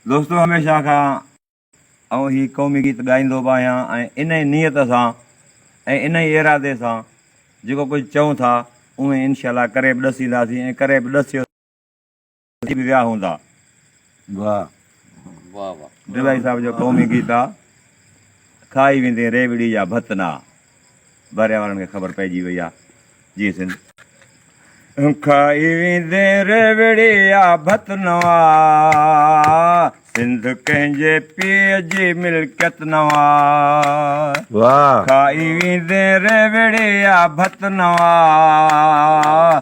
دوستو هميشه کان آئون هي قومي گيت ڳائيندو به آهيان ۽ انهي نيت سان ۽ انهي ارادي سان جيڪو ڪجهه چئون ٿا اوهين انشاء الله ڪري به ڏسينداسين ۽ ڪري به ڏسيو ٿي به ويا هوندا. واهه واهه واهه. ڊيلائي صاحب جو قومي گيت آ. کائي ويندين ريوڙي جا ڀت نا. بحريه وارن کي خبر پئجي وئي آ. جي سنڌ. کائي ويندين ريوڙي جا ڀت نوا. سنڌ ڪنهن جي پيء جي ملڪيت نوا. واهه. کائي ويندين ريوڙي جا ڀت نوا.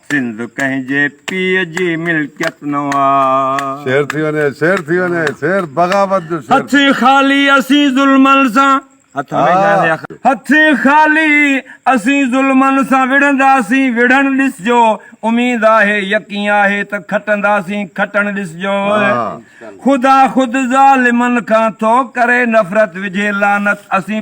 سنڌ ڪنهن جي پيء جي ملڪيت نه آ. شعر ٿي وڃي شعر ٿي وڃي شعر بغاوت جو شعر. هٿ خالي اسين ظلمن سان. هٿ هميشه آهي آخر. هٿ خالي اسين ظلمن سان وڙهنداسين وڙهڻ ڏسجو اميد آهي يقين آهي ته کٽنداسين کٽڻ ڏسجو خدا خود ظالمن کان ٿو ڪري نفرت وجهي لعنت اسين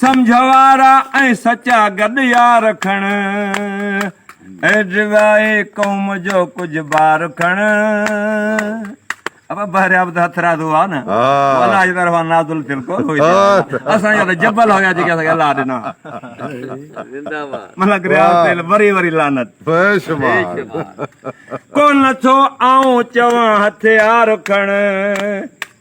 سمجهه وارا ۽ سچا گڏ يار کڻ. ايڊوائي قوم جو ڪجهه بار کڻ. ابا بحر آبد هٿراز هئا نه الله جي طرفان نازل ٿيل ڪون هئي اسان جا ته جبل هيا جيڪي اسان کي الله ڏنا زنده باد ملڪ رياض تيل وري وري لعنت بيشمار ڪون ٿو آئون چوان هٿيار کڻ